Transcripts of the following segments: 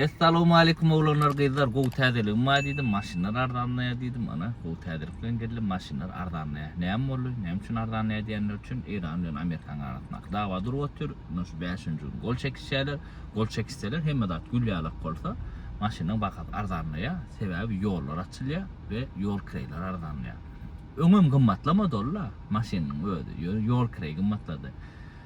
Essalowmaleýkum oglanlar gyzlar gowy täzeligim bar diýdim maşynlar arzanlaýar diýdim ana gowy täzelik bilen geldim maşynlar arzanlaýar näme boldy näme üçin arzanlaýar diýenler üçin Eýran bilen Amerikanyň arasyndaky dawa durup otyr mundan şu bäşinji gün gol çekişýärler gol çekişseler hemme zat gül ýalak bolsa maşynyň bahasy arzanlaýar sebäbi ýollar açylýar we ýol kireýleri arzanlaýar öňem gymmatlamady ol-la maşynyň özi ýöne ýol kireýi gymmatlady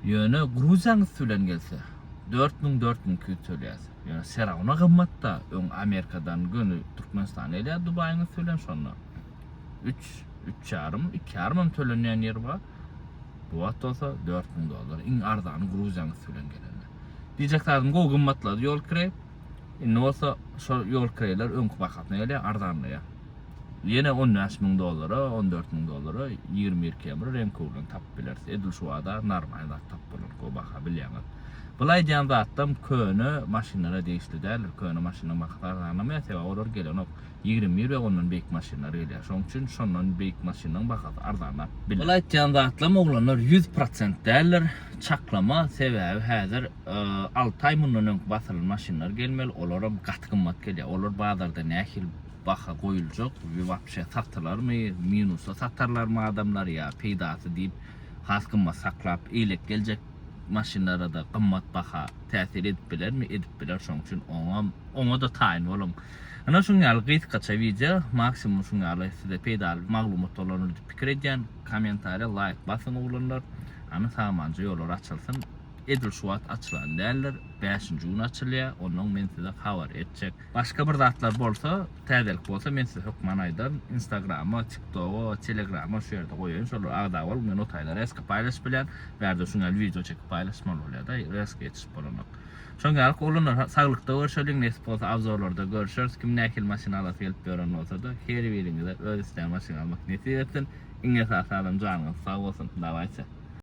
Ýöne Gruziýaň üsti bilen gelse, dört müň, dört müň iki ýüz tölýäs. Ýöne serawna gymmat-da, öň Amerikadan göni Türkmenistana gelýär Dubaýyň üsti bilen şonda. Üç, üç ýarym, iki ýarymam tölenýän ýeri bar. Bu wagt bolsa dört müň dollar, iň arzany Gruziýaň üsti bilen gelende. Diýjek zadym gowy gymmatlady ýol kireý. Indi bolsa şol ýol kireýler öňki bahasyna gelýär, arzanlaýar. Ýene on bäş müň dollara, on dört müň dollara ýigrimi bir kebir reňki urlan tapyp bileris. Edil şu bazar narmaý zat tapyp bolar go baha bilýäňiz. Bul aýdýan zatlam köne maşynlara degişli däldir. Köne maşynyň bahasy arzanlamaýar sebäbi olar gelenok. Ýigrimi bir we ondan beýik maşynlar gelýär. Şoň üçin şondan beýik maşynyň bahasy arzanlap biler. Bul aýtýan zatlam oglanlar ýüz prosent däldir. Çaklama sebäbi häzir alty aý mundan öňki basylan maşynlar gelmeli olaram gaty gymmat gelýär. Olar bazarda nähili. baha goýuljak we wapşe satylarmy, minusa satarlarmy adamlar ýa peýdasy diýip has gymmat saklap eýlek geljek maşynlarada gymmat baha täsir edip bilermi, edip biler şoň üçin oňam oňada taýyn boluň. Ynha şuň ýaly gysgaça wideo maksimum şuň ýaly size peýdaly maglumat dolandyr diýip pikir edýän kommentariýa laýk basyň oglanlar hany samanja ýollar açylsyn edil şu wagt açylan däldir bäşinji gün açylýa onnoň men size habar etjek Başga bir zatlar bolsa, täzelik bolsa men size hökman aýdaryn. Instagrama, TikToga, Telegrama şu ýerde goýaýyn. Şolara agza boluň. Men o taýda reska paýlaşyp bilýän. Bärde şuň ýaly wideo çekip paýlaşmaly bolýar-da, reska ýetişip bolanok. Şoň ýaly oglanlar, saglykda görşeliň, nesip bolsa abzorlarda görüşeris. Kim nähili maşyn alasy gelip ýören bolsa-da, her biriňize öz islän maşyňy almak nesip etsin. Iň esasy adam janyňyz sag bolsun. Dawaýsa.